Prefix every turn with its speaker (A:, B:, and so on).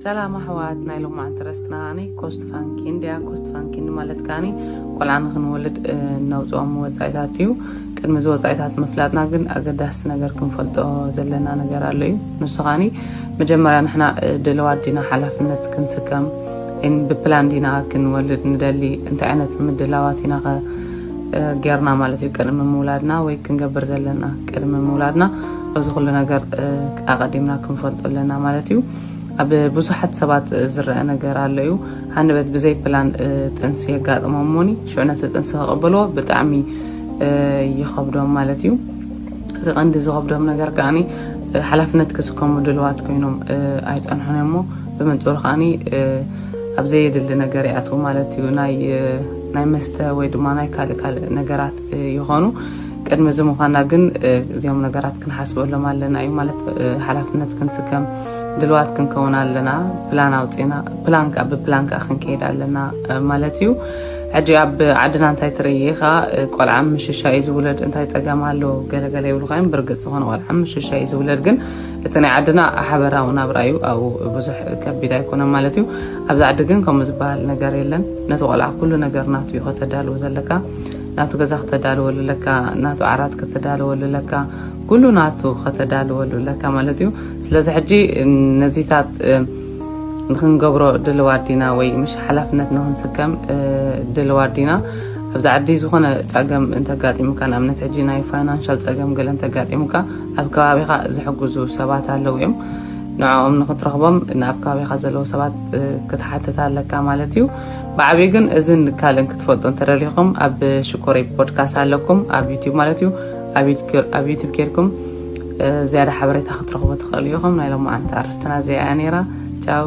A: ሰላም ኣሕዋት ናይ ሎማዓንቲ ረስትና ኒ ኮስት ፋንኪ እንድያ ኮስት ፋንኪ ማለት ከዓኒ ቆልዓ ንክንወልድ ነውፅኦም ወፃኢታት እዩ ቅድሚ እዚ ወፃኢታት ምፍላጥና ግን ኣገዳሲ ነገር ክንፈልጦ ዘለና ነገር ኣሎ እዩ ንሱ ከዓኒ መጀመርያ ንሕና ድልዋት ዲና ሓላፍነት ክንስከም ብፕላን ዲና ክንወልድ ንደሊ እንታይ ዓይነት ምድላዋት ኢና ጌርና ማለት እዩ ቅድሚ ምውላድና ወይ ክንገብር ዘለና ቅድሚ ምውላድና እዚ ኩሉ ነገር ኣቀዲምና ክንፈልጦ ኣለና ማለት እዩ ኣብ ብዙሓት ሰባት ዝረአ ነገር ኣሎ እዩ ሃንደበት ብዘይ ፕላን ጥንሲ የጋጥሞም ሞኒ ሽዑ ነቲ ጥንሲ ከቐበልዎ ብጣዕሚ ይኸብዶም ማለት እዩ እቲ ቀንዲ ዝኸብዶም ነገር ከዓኒ ሓላፍነት ክስከሙ ድልዋት ኮይኖም ኣይፀንሑን እሞ ብመንፅሩ ከዓኒ ኣብ ዘየድሊ ነገር ይኣትዉ ማለት እዩ ናይ መስተ ወይ ድማ ናይ ካልእ ካልእ ነገራት ይኾኑ ቅድሚ እዚ ምዃና ግን እዚኦም ነገራት ክንሓስበሎም ኣለና እዩ ማለት ሓላፍነት ክንስከም ድልዋት ክንከውን ኣለና ፕላን ኣውፅና ፕላን ከዓ ብፕላን ከዓ ክንከይድ ኣለና ማለት እዩ ሕጂ ኣብ ዓድና እንታይ ትርኢ ኢኻ ቆልዓ ምሽሻ እዩ ዝውለድ እንታይ ፀገም ኣሎ ገለገለ ይብልካ እዮም ብርግፅ ዝኾነ ቆልዓ ምሽሻ እዩ ዝውለድ ግን እቲ ናይ ዓድና ሓበራዊ ናብራ እዩ ኣብኡ ብዙሕ ከቢድ ኣይኮነን ማለት እዩ ኣብዚ ዓዲ ግን ከምኡ ዝበሃል ነገር የለን ነቲ ቆልዓ ኩሉ ነገር ናቱ እዩ ከተዳልው ዘለካ ናቱ ገዛ ከተዳልወሉ ኣለካ ናቱ ዓራት ከተዳልወሉ ኣለካ ኩሉ ናቱ ከተዳልወሉ ኣለካ ማለት እዩ ስለዚ ሕጂ ነዚታት ንክንገብሮ ድልዋት ዲና ወይ ምሽ ሓላፍነት ንክንስከም ድልዋት ዲና ኣብዚ ዓዲ ዝኾነ ፀገም እንተጋጢሙካ ንኣብነት ሕጂ ናይ ፋይናንሻል ፀገም ገለ እንተጋጢሙካ ኣብ ከባቢኻ ዝሕግዙ ሰባት ኣለዉ እዮም ንዕኦም ንክትረኽቦም ናብ ከባቢኻ ዘለዉ ሰባት ክትሓትት ኣለካ ማለት እዩ ብዓብዩ ግን እዝን ካልእን ክትፈልጡ እንተደሊኹም ኣብ ሽኮረይ ፖድካስት ኣለኩም ኣብ ዩቲብ ማለት እዩ ኣብ ዩቲብ ኬድኩም ዝያዳ ሓበሬታ ክትረኽቡ ትኽእሉ ኢኹም ናይ ሎማዓንቲ ኣርስትና እዚኣ እያ ነይራ ቻው